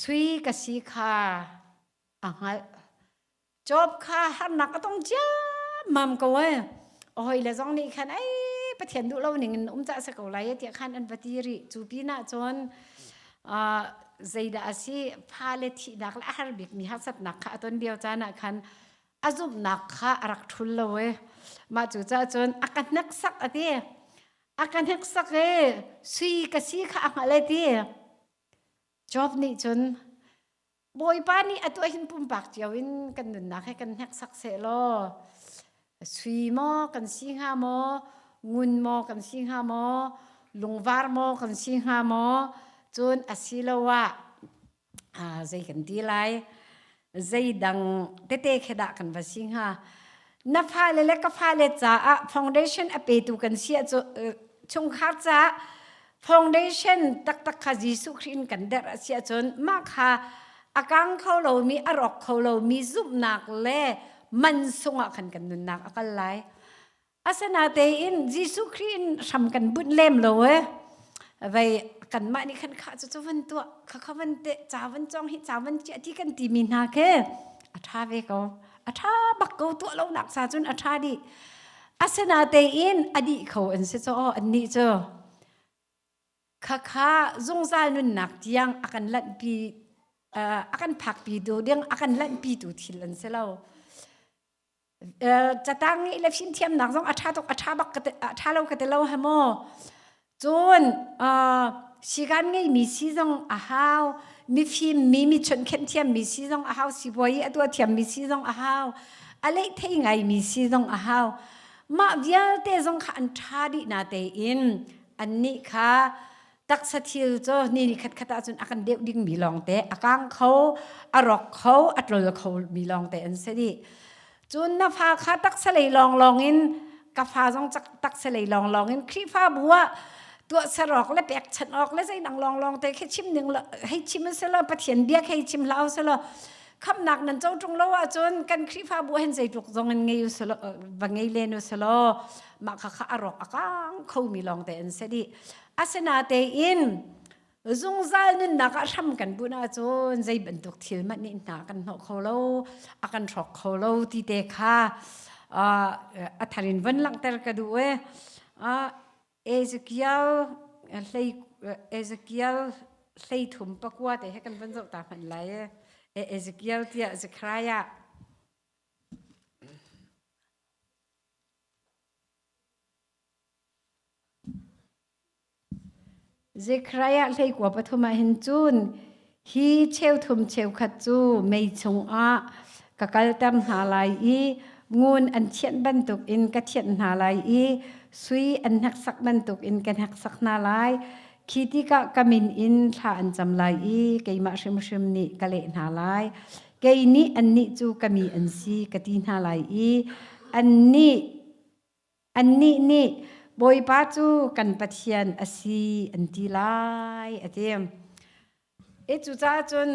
sui ka si kha a hngalh job kha harnak a tong cia mam ko ai hoi le zong nih khan ai pathian duh lo ning in um ca se ko lai tiah khan an va ti rih cu pin ah cun zeidah a si, fale thihnak le a har bikmi harsatnak kha a ton lio caan ah khan a zumhnak kha a rak ṭhul lo i mah cucaah cun a ka hneksak a ti. A ka hneksak i sui ka si kha a hngalh i ti. Job nih cun Bawipa nih atu ahhin pumpak cio in kan nunnak hi kan hneksak sehlaw sui maw kan si hnga maw, ngun maw kan si hnga maw, lungvar maw kan si hnga maw, cun asiloah zei kan ti lai, zeidang tete khi dah kan va si hnga. na fale le ka fale caah foundation a petu kan si ah cu chungkhar caah foundation taktak kha Jesuh Khrih in kan der a si ahcun mah kha a kang kho lomi a rawk kho lomi zumhnak le mansung ah khan kan nunnak a kal lai asinatein Jesuh Khrih in hram kan bunh lem lo e vei kanmah nih khan kha cu cu van tuah kha kha van te ca van cong hi ca van ciah ti kan timi hna ke a tha ve ko a ṭha bak ko tuah lonak sa cun a ṭha dih. Asinatein a dih kho an si caw annih cu. Khakha zungzal nunnak tiang a kan lanhpi uh, a kan phakpi tu ding a kan lanhpi tu thil an si lo. Uh, catang i le finthiamnak zong a ṭha tuk a ṭha bak ka te, a ṭha lo ka te lo ha maw. Cun uh, sigan ngeimi si zong a hau. Mifim mi, mi chunh khenh thiammi si zong a hau. Sipuai i a tua thiammi si zong a hau. A leih thei ngaimi si zong a hau. Mah vialte zong kha an ṭha dih na tein annih kha taksa thil cu ni ni khatkhat ahcun a kan deuh dingmi lawngte, a kang kho, a rawk kho, a tlol khomi lawngte an si dih. cun na fa kha taksalei lawnglawng in ka fa zong taksalei lawnglawng in khrihfabu ah tuah serawk le pekchanh awk le zeidang lawnglawng te khi chim ning hei chim se law pathian biak hei chim hlau se law khamnak nan co ṭung lo ahcun kan khrihfabu hen zeitluk zong in ngei uselo va ngei len uselo mah kha kha a rawk a kang khomi lawng te an si dih asinatein Zungzal nunnak ah hram kan bunh ahcun zei bantuk thil mat nih hna kan hnawh kho lo, a kan hrawk kho lo ti te kha a thar in van langhter ka duh ee. Ezekiel hlei Ezekiel hlei thum pakua te he kan van zoh ta hmanh lai ee. Ezekiel tiah Zekhariah. Zekhariah hleikua pathum ah hin cun hi cheu thum cheu khat cu mei chungah ka kalter hna lai i ngun an thianh bantukin ka thianh hna lai i sui an hneksak bantukin ka hneksak hna lai. Khi tikah ka min in thla an cam lai i keimah hrimhrim nih ka leh hna lai. Kei nih annih cu ka mi an si ka ti hna lai i annih Annih nih Bawipa cu kan Pathian a si an ti lai a ti. E cucaah cun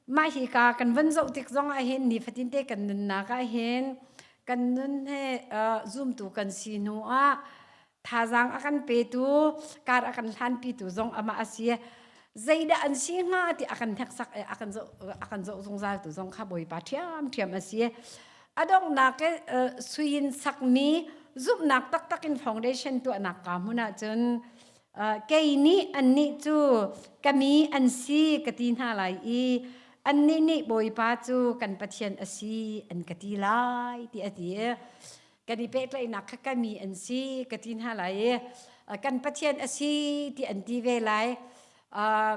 mah hi ka kan van zoh tik zong ahhin nifatinte kan nunnak ahhin kan nun he uh, zumtu kan si hnu ah thazaang a kan petu kar a kan hlanpitu zong amah a si. Zeidah an si hnga ti a kan hneksak i a kan zoh, a kan zoh zungzal tu zong kha Bawipa ṭhiamṭhiam a si. a donghnak e, uh, suin sakmi zumhnak taktak in foundation tuahnak ka hmun ahcun uh, kei nih annih cu kami an si ka ti hna lai i annih nih Bawipa cu kan Pathian a si an ka ti lai ti a ti kan i pehtlaihnak kha kami an si ka ti hna lai i uh, kan Pathian a si ti an ti ve lai uh,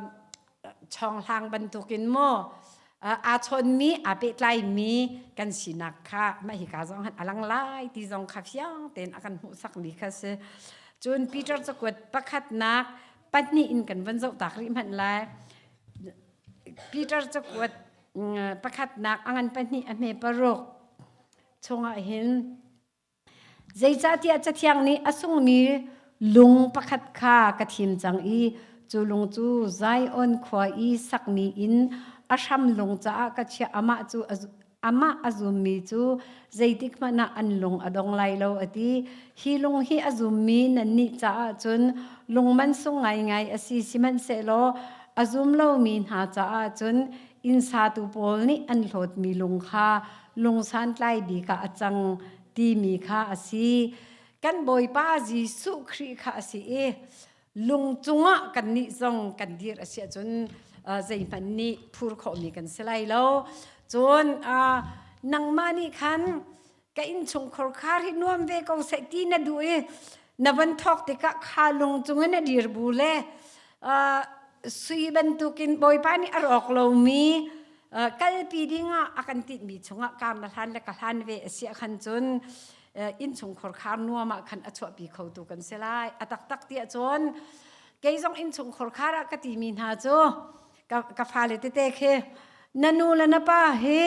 chawnglang bantukin maw aa chawnmi aa pehtlaimi kan sinak kha mah hika zong han a lang lai ti zong kha fiang tein a kan hmuhsak mi kha si. Cun Peter cakuat pakhatnak pahnih in kan van zoh tak rih hmanh lai. Peter cakuat pakhatnak a ngan pahnih a hme paruk chungah hin Zeicahtiah Cathiang nih a sungmi lung pakhat kha ka thim cang i cu lung cu Zion khua i sakmi in a hram lung caah ka chiah. Amah cu amah a zummi cu zeitik hmanh ah an lung a dong lai lo, a ti. Hi lung hi a zummi nannih caah cun lung mansung ngaingai a si, sihmanhsehlaw a zum lomi hna caah cun innsatu pawl nih an hlawtmi lung kha lungsantlai bik ah a cang timi kha a si kan bawipa jesuh khrih kha a si i lung cungah kan nih zong kan dir a si ahcun zeihmanh nih phur khawhmi kan si lai lo cun nangmah nih khan ka innchungkhar khar hi nuam ve ko seh ti na duh i Na van thawk tikah kha lung cungin a dir bu le uh, sui bantukin Bawipa nih a rawk lomi uh, kalpi dingah a kan tinhmi chungah kaam na hlan le ka hlan ve a si a khan cun uh, innchungkhur khar nuam ah khan a chuahpi kho tu kan si lai a taktak tiah cun kei zong innchungkhur khar ah ka timi hna cu ka, ka fale tete khi na nu le na pa hi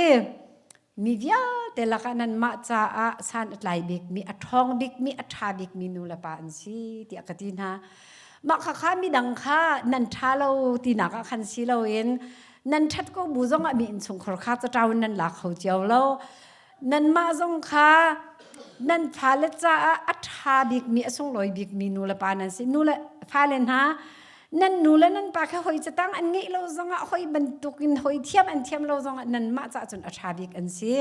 Mi vialte lakah nanmah caah san a tlai bikmi, a ṭhawng bikmi, a ṭha bikmi nu le pa an si tiah ka ti hna. Mah khakha midang kha nan ṭha lo tinak ah khan si loin nan ṭhat ko bu zongah mi innchungkhar kha caṭau in nan la kho cio lo. Nanmah zong kha nan fale caah a ṭha bikmi, a sunglawi bikmi nu le pa nan si. Nu le fale hna, nan nu le nan pa kha hoi catang an ngeih lo zongah hoi bantuk in hoi thiam an thiam lo zongah nanmah ca cun a ṭha bik an si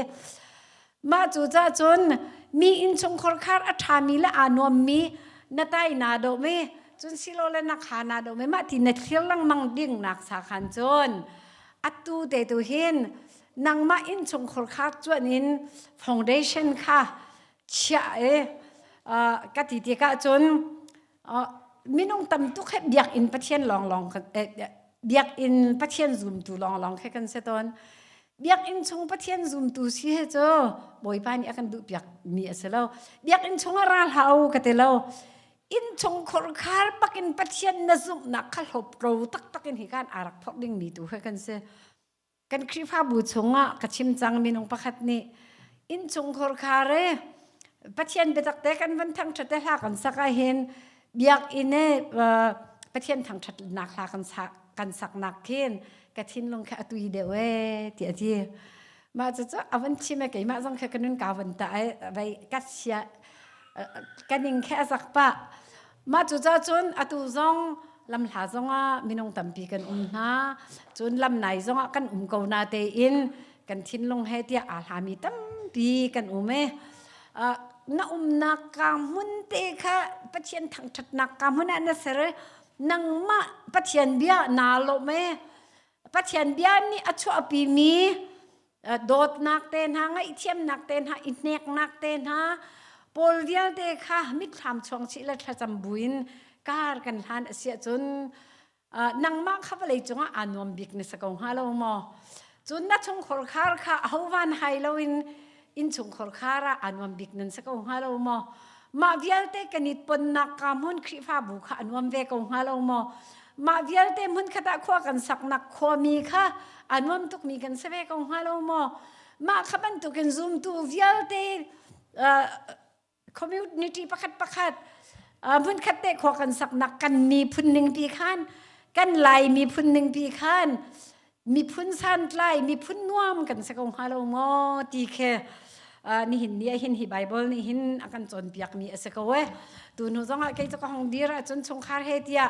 mah cu ca cun mi innchungkhar khar a ṭhami le aa nuammi na tai naa dawm i cun silo le na kha naa dawm i mah ti na thlir lengmang ding nak sa khan cun atu te tu hin nangmah innchungkhar khar cuanin foundation kha chiah e ka ti ti ka cun minung tam tuk he biakinn pathian lawnglawng biakinn pathian zumtu lawnglawng khi kan si tawn. Biakinn chung pathian zumtu si he cu Bawipa nih a kan duhpiakmi a si lo. Biakinn chung ah ra hlah u ka ti lo. Inn chung khurkhar bak in pathian na zumhnak kha hlawp ro taktak in hi kan aa rak phorh dingmi tu khi kan si. Kan Khrihfabu chungah ka chim cang minung pakhat nih innchungkhur khar e Pathian biatak te kan van thangthat te hla kan sak ah hin biakinn e Pathian thangthatnak hla kan sak kan sak nak khin ka thinlung kha a tui deuh e ti a ti. Mah cucu a van chim e keimah zong khi ka nun ka van tah e vei ka sia ka ning khi a zak pah. Mah cucaah cun atu zong lamhla zongah minung tampi kan um hna. Cun lamnai zongah kan um ko na tein kan thinlung he tiah aa hlami tampi kan um i uh, na umnak ka hmun te kha Pathian thangṭhatnak ka hmun ah na ser i nangmah Pathian bia naa lawmh i Pathian bia nih a chuahpimi dawtnak te hna ngaihthiamnak te hna i hneknak te hna paul vialte kha mitthlam chuang chih le thlacam buin kar kan hlan asia cun nangmah kha vawlei cungah aa nuam bik na sa ko hnga lo maw cun na chungkhar khar kha ahovan hai loin in chungkhar khar ah aa nuam bik nan sa ko hnga lo maw Mah vialte kan i tonnak ka hmun Khrihfabu kha a nuam ve ko hnga lo maw? Mah vialte hmun khatah khua kan saknak khuami kha a nuam tukmi kan si ve ko hnga lo maw? Mah kha bantukin zumtu vialte uh, community pakhat pakhat uh, hmunkhat te khua kan saknak kan miphun ning pi khan kan lai miphun ning pi khan miphun santlai miphun nuam kan se ko hnga lo maw ti khe uh, nihin ni ahin hi bible ni hin akan chon piak mi ase ko e tu nu zong ah kei ka hong dir chun chungkhar he tia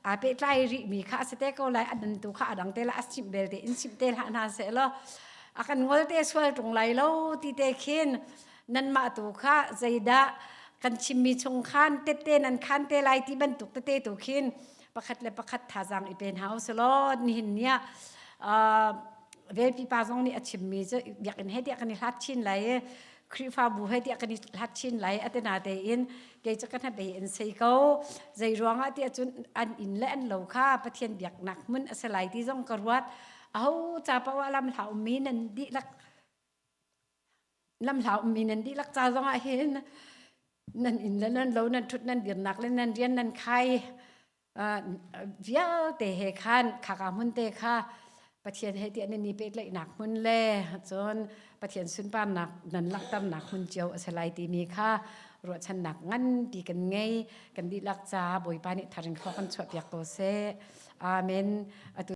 a pe tlai ri mi kha asete ko lai adan tu kha adang te la asim bel te insim te la na se lo akan ngol te sual tung lai lo ti te khin nan ma tu kha zaida kan chimmi chung khan tette nan khan te lai ti bantuk te te tu khin pakhat le pakhat thazaang i pe hna u silaw nihin niah ve pipa zong nih a chimmi cu biakinn he tiah kan i hlat chin lai i Khrihfabu he tiah kan i hlat chin lai atina tein kei cu ka hnabei in sei ko zei ruangah tiah cun an inn le an lo kha Pathian biaknak mun a si lai ti zong ka ruat aho ca paoh ah lam hla ummi nan dihlak Lamhlau ummi nan dihlak ca zongah hin nan inn le nan lo, nan ṭhut nan dirnak le nan rian nan khai vialte he khan khaka hmun te kha Pathian he tiah nan i pehtlaihnak hmun le cun Pathian sunparnak nan langhternak hmun cio a si lai timi kha ruahchannak nganpi kan ngei. Kan dihlak ca Bawipa nih tharin khua kan chuahpiak ko seh. Amen. Atu